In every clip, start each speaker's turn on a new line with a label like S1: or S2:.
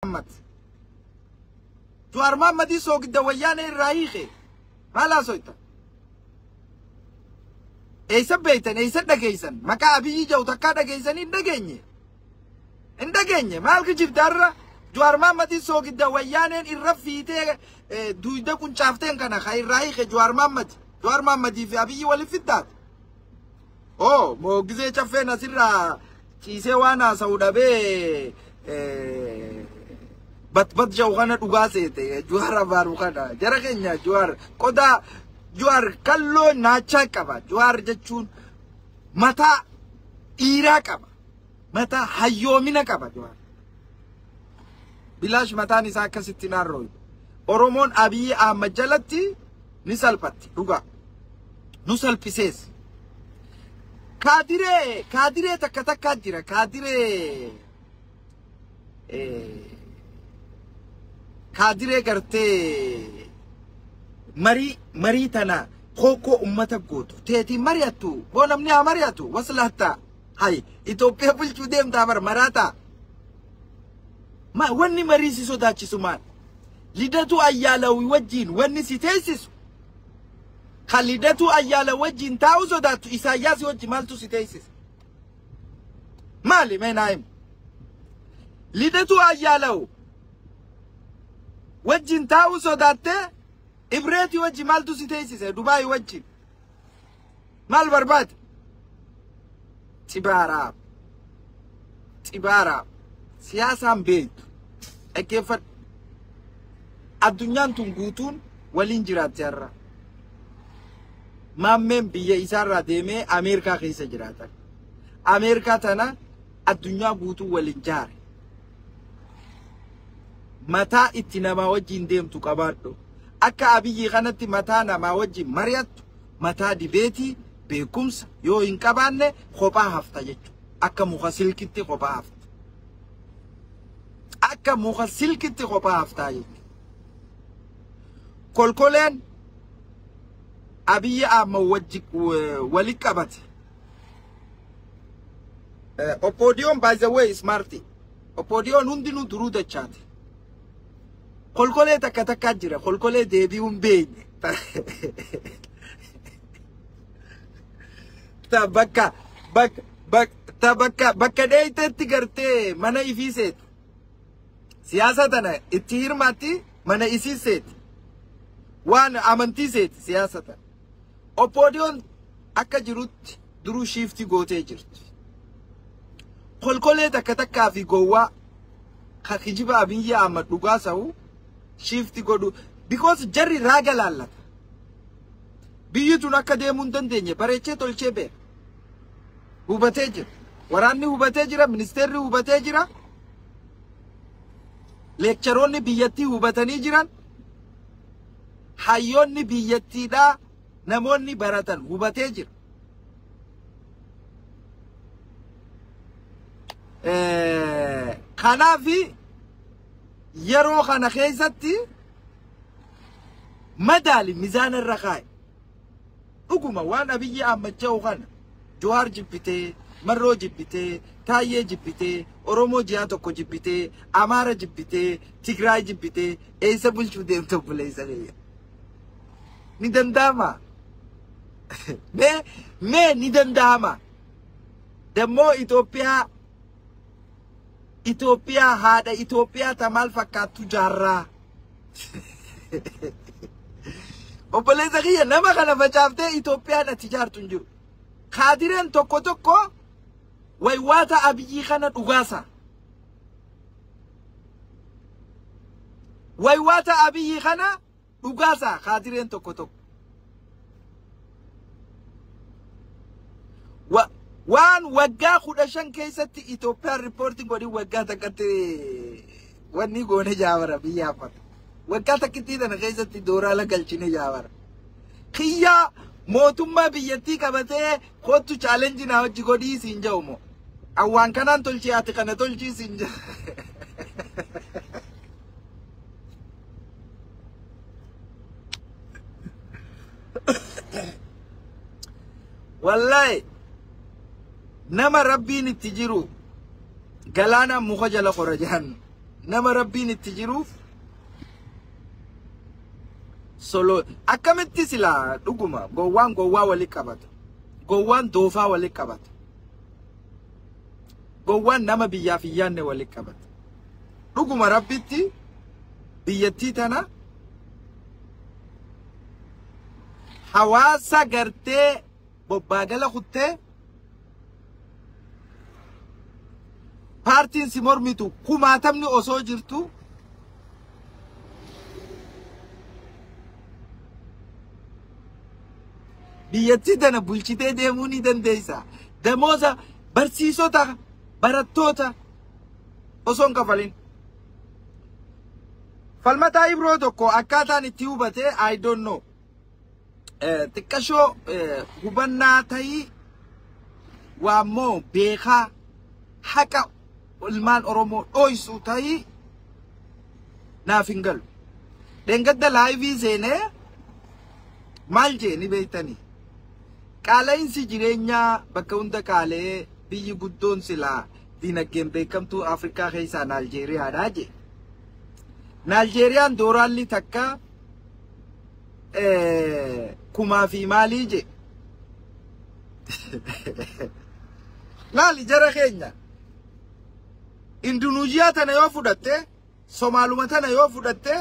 S1: Mohammad. Juwaar Mohammadii soogidda wayyaanee irraa hiike. Maal haasoyta? Eeysa beeytan, eeysa dhageeysan. Maqaa Abiyyii jedhu takkaa dhageeysanii hin dhageenye. Hin dhageenye. Maal kijibdaarra? Juwaar Mohammadii soogidda wayyaaneen irra fiitee eh, duuyda quncaafteen kana ka irraa hiike Juwaar Mohammad. Juwaar Mohammadii fi Abiyyii waliin fiddaati. oo moogisee caffeen asirraa ciisee waan haasa'u dhabee eh, batbat jau kana dhugaa seete juwaar abaaru kana jara keenya juwaar qodaa juwaar kalloo naachaa qaba juwaar jechuun mataa dhiiraa qaba mataa hayyoomina qaba juwaar bilaash mataan isaa akkasitti naarrooyu oromoon abiyyi ahmad jalatti ni salphatti dhugaa. Nu salphisees. Kaadiree kaadiree takka takkaa jira kaadiree eh, kaadiree gartee marii marii tana kookoo ummata gootu teetii mari'attu boo namni haa mari'atu waslaattaa hay Itoophiyaa bulchuu deemtaa bar maraataa Ma- wanni marii si sodaachisu maal Lidatuu Ayyaalawi wajjiin wanni si teeysisu ka Lidatuu Ayyaala wajjiin taa'uu sodaattu Isaayyaasi wajji maaltu si teeysise? Maali mee naa himi? Lidatuu Ayyaalawu wajjiin taa'uu sodaattee Ibreetii wajji maaltu si teeysise Dubaayi wajjiin? Maal barbaada? Xibaaraaf. Xibaaraaf. Siyaasaan beektu. Dhaggeeffadhu. Addunyaan tun guutuun waliin jiraatti har'a. Maammeen biyya isaarraa deemee Ameerikaa keessa jiraata. Ameerikaa tana addunyaa guutuu waliin jaare. Mataa itti namaa wajjin deemtu qabaadhu. Akka abiyyi kanatti mataa namaa wajjin mari'attu mataa dibeetii beekumsa yoo hin qabaanne kophaa hafta jechuudha. Akka muka silkitti kophaa hafta. Akka muka silkitti kophaa haftaa jechuudha. Kolkoleen Abiyyi Ahmad wajji wali qabate. Oppoodiyoon by the way smarti. Oppoodiyoon hundinuu duruu dachaate. Kolkolee takka takkaa jira. Kolkolee deebi'uu hin beekne. Ta bakka bakka bakka ta bakka bakka dheeyteetti gartee mana ifii seeti. Siyaasa tana itti hirmaatti mana isii seeti. Waan amantii seeti siyaasa tana. Oppoodiyoon akka jirutti duruu shiiftii gootee jirti. Kolkolee takka takkaa fi gowwaa ka kijiba Abiyyi Ahmad dhugaa sahu shiiftii godhu. Because jarri raaga laallata. Biyyi tun akka deemuu hin dandeenye bareechee tolchee beeka. Hubatee jira. Waraanni hubatee jira, ministeerri hubatee jira. Leekcharoonni biyyattii hubatanii jiran. hayyoonni biyyattiidhaa namoonni baratan hubatee jira. Kanaaf yeroo kana keessatti madaali mizaana irra kaa'i. Dhuguma waan Abiyyi aammacha'u kana Juhaar jibbitee, Marroo jibbitee, Taayyee jibbitee, Oromoo ji'a tokko jibbitee, Amaara jibbitee, Tigraay jibbitee eessa bulchuu deemta obboleessa kiyya? Ni danda'amaa? Mee mee ni danda'amaa? Dammoo Itoophiyaa Itoophiyaa haadha Itoophiyaa ta maal fakkaattu jaarraa? Obboleessa kiyya nama kana facaaftee Itoophiyaan ati jaartu hin jiru. Kaadireen tokko tokko waywaata abiyyii kana dhugaasa. Waywaata abiyyii kana dhugaasa kaadireen tokko tokko. Wa- Waan waggaa kudha shan keessatti Itoophiyaan riippoortiin godhin waggaa takkatti wanni goone jaabara biyya hafata. Waggaa takkittii tana keessatti dooraala galchine jaabara. Kiyyaa mootummaa biyyattii qabatee kottu chaalenji naa hojji godhii siin ja'u moo. Awwaan kanaan tolchii ati kana tolchii siin ja'u. Wallahi nama rabbiin itti jiru galaana muka jala qora jedhan nama rabbiin itti jiruuf solo akkamitti silaa dhuguma gowwaan gowwaa wali qabata gowwaan doofaa wali qabata gowwaan nama biyyaaf hin yaanne wali qabata dhuguma rabbitti biyyattii tana hawaasa gartee bobbaa gala kuttee paartiin si mormitu kumaatamni osoo jirtu biyyattii tana bulchitee deemuu ni dandeessa. Damooza barsiisota barattoota osoo hin kafalin. Falmataa Ibroo tokko akkaataan itti hubate I don't know. Xiqqashoo hubannaa ta'ii waa moo beekaa haqa ilmaan Oromoo dhooysuu ta'ii naaf hin galu. Dhengadda laayivii seenee maal jee ni beektanii? Qaala'insi jireenyaa bakka hunda qaala'ee biyyi guddoon silaa diinagdeen beekamtuu Afrikaa keessaa Naaljeeriyaadhaa jee. Naaljeeriyaan dooraalli takka kumaa fi maalii je laali jara keenya indunuuziyaa tana yoo fudhatte somaaluma tana yoo fudhatte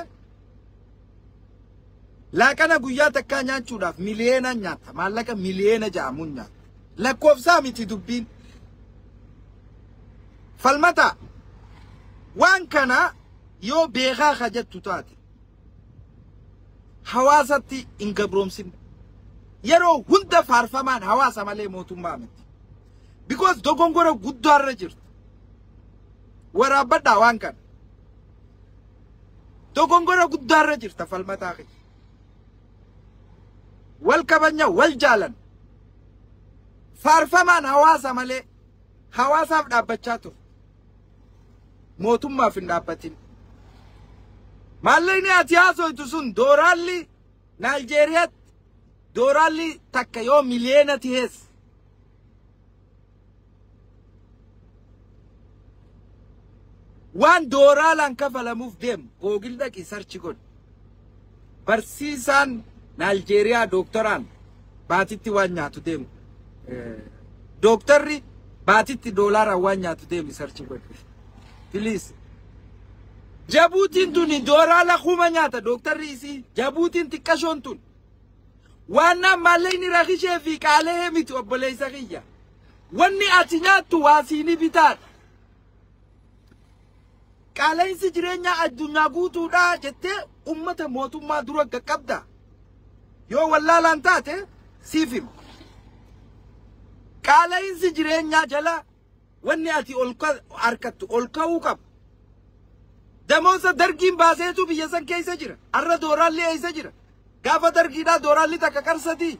S1: laaqana guyyaa takkaa nyaachuudhaaf miliyeena nyaatta maallaqa miliyeena ja'amuun nyaatta lakkoofsaa miti dubbiin falmata waan kana yoo beekaa ka jettu taate hawaasatti hin gabroomsine. Yeroo hunda faarfamaan hawaasa malee mootummaa miti. Because dogongora guddaarra jirtu. Waraabbadhaa waan kana. Dogongora guddaarra jirta falmataa kee. Wal kabanya wal jaalan. Faarfamaan hawaasa malee hawaasaaf dhaabbachaa ture. mootummaaf hin dhaabbatin. Maallaqni ati haasoytu sun dooraalli Naayijeeriyaatti dooraalli takka yoo miliyeena tihees waan dooraalaan kafalamuuf deemu googil dhaqi sarchi godhi. Barsiisaan Naaljeeriyaa dooktaraan baatitti waan nyaatu deemu. Dooktarri baatitti doolaaraan waan nyaatu deemi sarchi godhe. Please. Jabuutiin tuni doolaara kuma nyaata dooktarri isii. Jabuutiin xiqqashoon tun. Waan naan maallaqni rakishee fi qaala'ee miti obboleessa kiyya. Wanni ati nyaattu waa siini bitaadha. Qaala'insi jireenyaa addunyaa guutuudhaa jettee ummata mootummaa dura qaqqabda. Yoo wallaalaan taate siif hima. Qaala'insi jireenyaa jala wanni ati ol harkattu ol ka'uu qaba. Damoosa dargiin baaseetu biyya san keessa jira. Har'a dooraalli eessa jira? Gaafa dargiidhaa dooraalli takka qarsatii.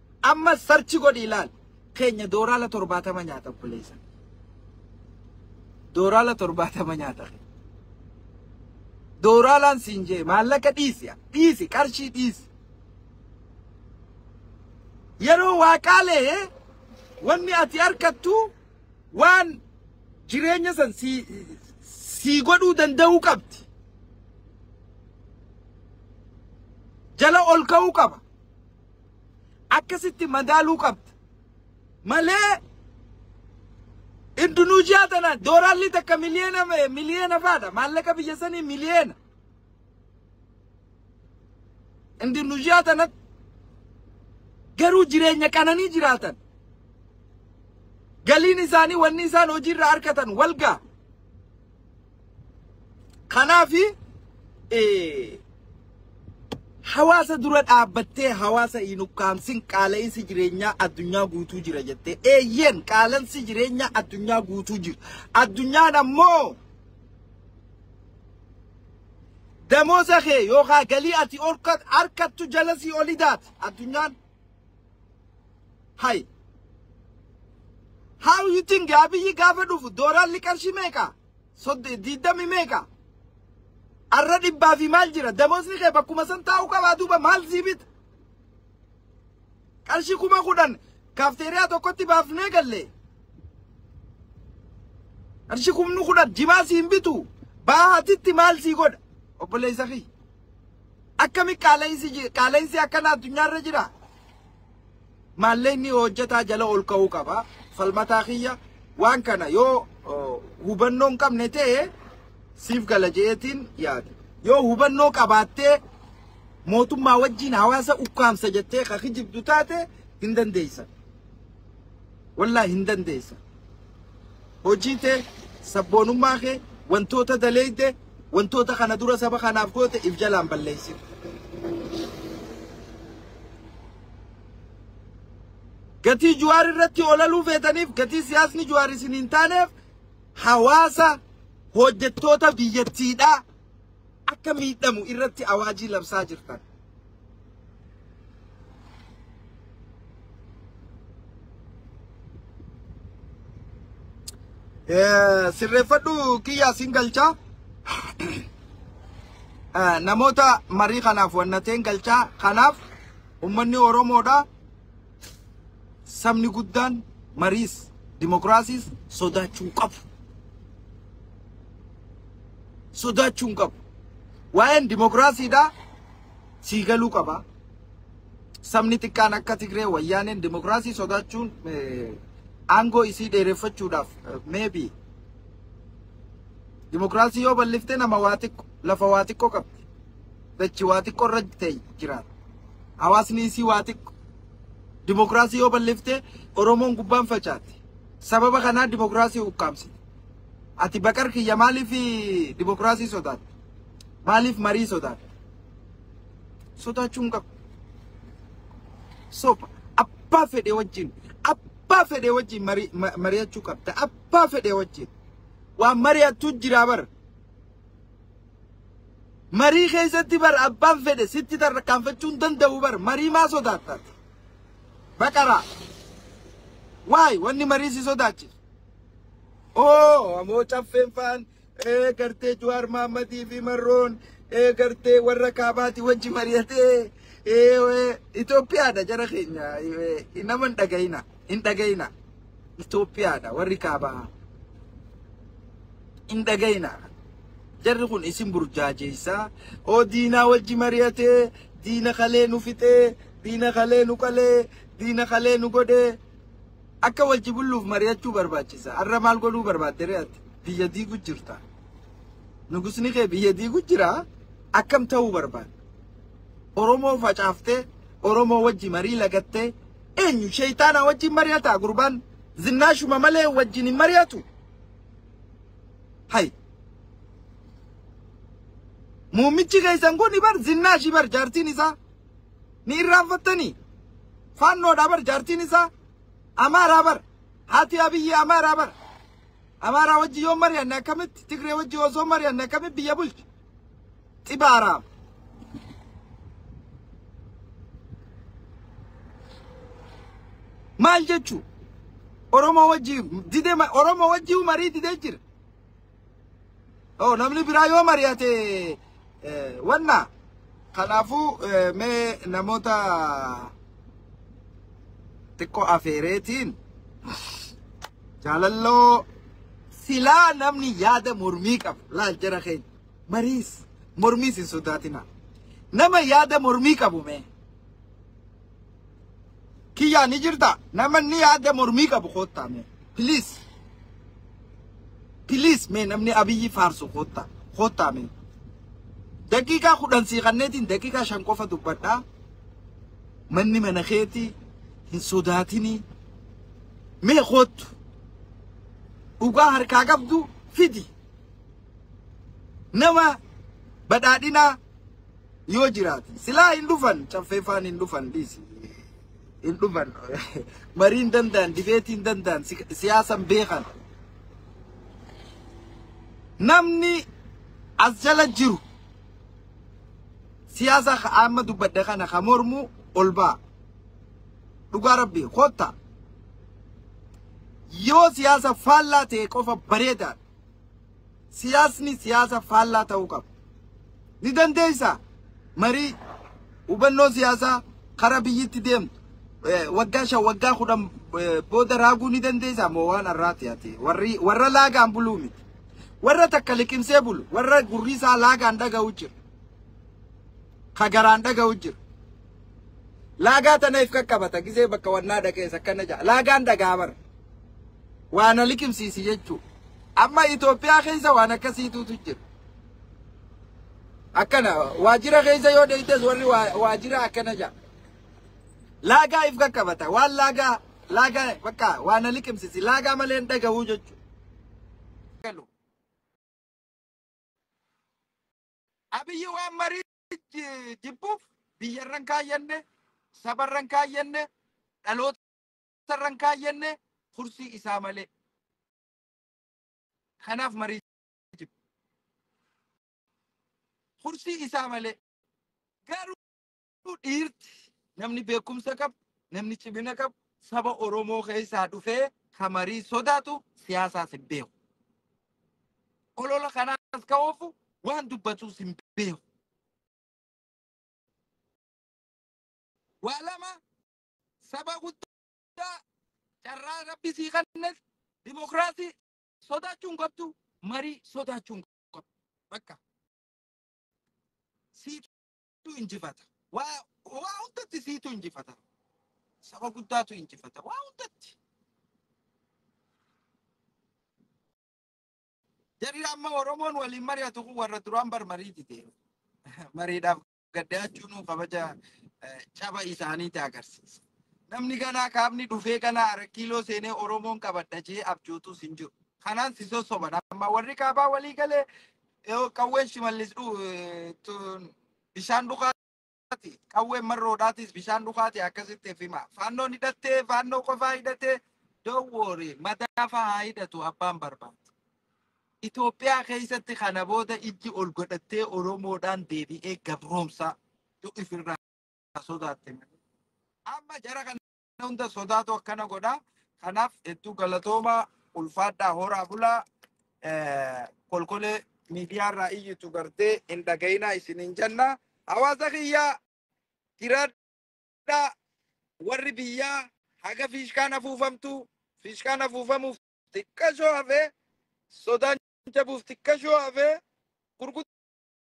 S1: Ammas sarchi godhii laal. Keenya dooraala torbaatama nyaata obboleessa. Dooraala torbaatama nyaata kee. Dooraalaan siin jee maallaqa dhiisi dhiisi qarshii dhiisi. Yeroo waaqaalee wanni ati harkattu waan jireenya san sii sii godhuu danda'uu qabdi. Jala ol ka'uu qaba. akkasitti madaaluu qabda malee Indonesia tana dooraalli takka miliyeena miliyeena faadha maallaqa biyya sanii miliyeena Indonesia tanatti garuu jireenya qananii jiraatan galiin isaanii wanni isaan hojiirra argatan walgaa Kanaaf hawaasa dura dhaabbattee hawaasa hin ukkaamsin qaala'insi jireenyaa addunyaa guutuu jira jettee eeyyeen qaalansi jireenyaa addunyaa guutuu jira. Addunyaan ammoo damooza kee yookaan galii ati harkattu jalasii oli daata addunyaan. Hay. How you think Abiyyi gaafa dhufu dooraalli qarshii meeqa? Sodde diiddami meeqa? Arra dhibbaa fi maal jira? Damoosni kee bakkuma san taa'uu qabaa duuba maal sii bita? Qarshii kuma kudhan kaafteeriyaa tokkotti baafnee galle. Qarshii kumni kudhan jimaa siin bitu baahatitti maal sii godha? Obboleessa kiyya. Akkami qaala'insi ji- qaala'insi akkana addunyaarra jira? Maallaqni hojjetaa jala ol ka'uu qaba. Falmataa kiyya waan kana yoo oh, hubannoo hin qabne ta'e siif gala jeetiin yaada. Yoo hubannoo qabaattee mootummaa wajjin hawaasa ukkaamsa jettee ka kijibdu taate hin dandeessan. Wallahi hin dandeessa. Hojii tee sabboonummaa kee wantoota daleeyde wantoota kana dura saba kanaaf goote if jalaan balleessin. Gatii Juwaar irratti olaluu feetaniif gatii siyaasni Juwaar isin hin taaneef hawaasa hojjettoota biyyattiidhaa. akka miidhamu irratti awaajii labsaa jirtan. Eh, Sirreeffadhu kiyyaa sin galchaa. Eh, Namoota marii kanaaf wannateen galchaa kanaaf ummanni Oromoodha. sabni guddaan mariis dimokiraasiis sodaachuu hin qabu. Sodaachuu hin qabu. Waa'een dimokiraasiidhaa sii galuu qaba. Sabni xiqqaan akka Tigree wayyaaneen dimokiraasii sodaachuun eh, aangoo isii dheereffachuudhaaf eh, maybe dimokiraasii yoo balliftee nama waa xiqqo lafa waa xiqqo qabdi. dachi waa xiqqoo irra ta'e jiraata. Hawaasni isii waa xiqqo. Dimokiraasii yoo balliftee Oromoon gubbaan facaate. Sababa kanaa dimokiraasii ukkaamsite. Ati baqar kiyya maaliif dimokiraasii sodaatte? Maaliif marii sodaatte? Sodaachuu hin qabu. Soba abbaa fedhe wajjin abbaa fedhe wajjin mari- ma- mari'achuu qabda. Abbaa fedhe wajjin waan mari'attu jiraa bara. Marii keessatti bar abbaan fedhe sitti tarkaanfachuu hin danda'u bar marii maa sodaatta ati? Baqaraa. Waay wanni marii si sodaachisu. Oo amoo caffeen faan ee gartee Juwaar Maammadii fi Marroon ee gartee warra kaabaati wajji mari'atee ee Itoophiyaadha jara keenya ee, nama hin dhaga'ina hin dhaga'ina. Itoophiyaadha warri kaabaa hin dhagayina jarri kun isin burjaajeessaa oo diinaa wajji mari'atee diina kalee nu fixee diina kalee nu qalee diina kalee nu godhee akka wajji bulluuf mari'achuu barbaachisa har'a maal godhuu barbaadde re'atti biyya diigu jirta nugusni kee biyya diigu jira akkam ta'uu barbaadde oromoo facaaftee oromoo wajji marii lagattee Eenyu sheeyxaanaa wajjin mari'ataa gurbaan zinnaashuma malee wajjin hin mari'atu. Hay. Muummichi keessan kun bar zinnaashi bar jaartiin isaa ni irraanfattanii. Faannoodhaa bar jaartiin isaa amaaraa bar haati abiyyi amaaraa bar amaaraa wajji yoo mari'anne akkamitti tigree wajji osoo mari'anne akkamitti biyya bulchi Xibaaraam. Maal jechuu? Oromoo wajjii dide Oromoo wajjii marii didee jira. Oh, namni biraa yoo mari'ate wanna. Kanaafuu mee namoota xiqqoo afeereetiin. Jaalalloo silaa namni yaada mormii qabu laal jara keenya mariis mormiis hin sodaatina nama yaada mormii qabu mee kiyyaa ni jirta namni yaada mormii qabu koottaa mee please please mee namni abiyyi faarsu koottaa koottaa mee daqiiqaa kudhan sii kanneetiin daqiiqaa shan qofa dubbadhaa manni mana keetii hin sodaatinii Mee koottu. Dhugaa harkaa qabdu fidi. Nama badhaadhinaa yoo jiraate. Silaa hin dhufan caffeefaan hin dhufan dhiisi. Hin dhufan. Marii hin danda'an, dibeetii hin danda'an, si- siyaasa hin beekan. Namni as jala jiru siyaasa ka- amma dubbadde kana ka mormu ol ba'a. Dhugaa rabbii kottaa. Yoo siyaasa faallaa ta'e qofa bareedaadha. Siyaasni siyaasa faallaa ta'uu qaba. Ni dandeessa marii hubannoo siyaasaa karaa biyyitti deemtu eh, waggaa shan waggaa kudhan eh, booda raaguu ni dandeessa moo waan har'aati ati warri warra laagaan buluu miti. Warra takka liqimsee bulu warra gurri isaa laagaan dhaga'u jira. ka garaan dhaga'u jiru. Laagaa tana if qaqqabata gizee bakka wannaa dhaqees akkana ja'a. Laagaan dhagaa bara. Waa na liqimsiisi jechuu. Amma Itoophiyaa keessa waan akkasiitutu jira. Akkana waajjira keessa yoo deeytes warri waa- waajjira akkana ja'a. Laagaa if qaqqabata. Waan laagaa laagaa bakka waa na liqimsiisi. Laagaa malee hin dhaga'uu jechuu. Abiyyi waan marii ji- jibbuuf biyyarra hin kaayyanne, sabarra hin kaayyanne, dhalootarra hin kaayyanne, kursii isaa malee. Kanaaf marii jibbu. Kursii isaa malee. Garuu Garuu dhiirti namni beekumsa qabu, namni cimina qabu saba Oromoo keessaa dhufee ka marii sodaatu siyaasaas hin beeku. Olola kanaas ka oofu waan dubbatuus hin beeku. Waa lama saba guddaa carraa rabbi sii kennes dimokiraasii sodaachuu hin qabdu marii sodaachuu hin qabdu. Bakka sii tu injifata. Waa waa hundatti siitu injifata. Saba guddaatu injifata. Waa hundatti. Jarri amma Oromoon waliin mari'atu kun warra duraan bar marii dide. Mariidhaaf gaddaachuun kabaja eh, caba isaaniiti agarsiisa. Namni ganaa kaabni dhufee ganaa arakiiloo seenee Oromoon qabadha jee abjootuus hin jiru. Kanaan si sossoban amma warri kaabaa walii galee Yoo qawween shimallis dhu eh, tun bishaan dhukaati. Qawween marroodhaatis bishaan dhukaati akkasitti if hima. Faannoon hidhattee faannoo qofaa hidhatee dowwoori madaa fahaa hidhatu abbaan barbaadu. Itoophiyaa keessatti kana booda ijji ol godhattee Oromoodhaan deebi'ee gabroomsaa yoo ifirraa sodaatte malee. Amma jara kana hunda sodaatu akkana godha. Kanaaf hedduu galatoomaa ulfaadhaa horaa bulaa eh, kolkolee miidiyaarraa iyyitu gartee hin dhaga'inaa isin hin jenna. Hawaasa kiyyaa jiraadhaa warri biyyaa haga fiishkaan afuufamtu fiishkaan afuufamuuf xiqqashoo hafee sodaan jabuuf xiqqashoo hafee gurguddaa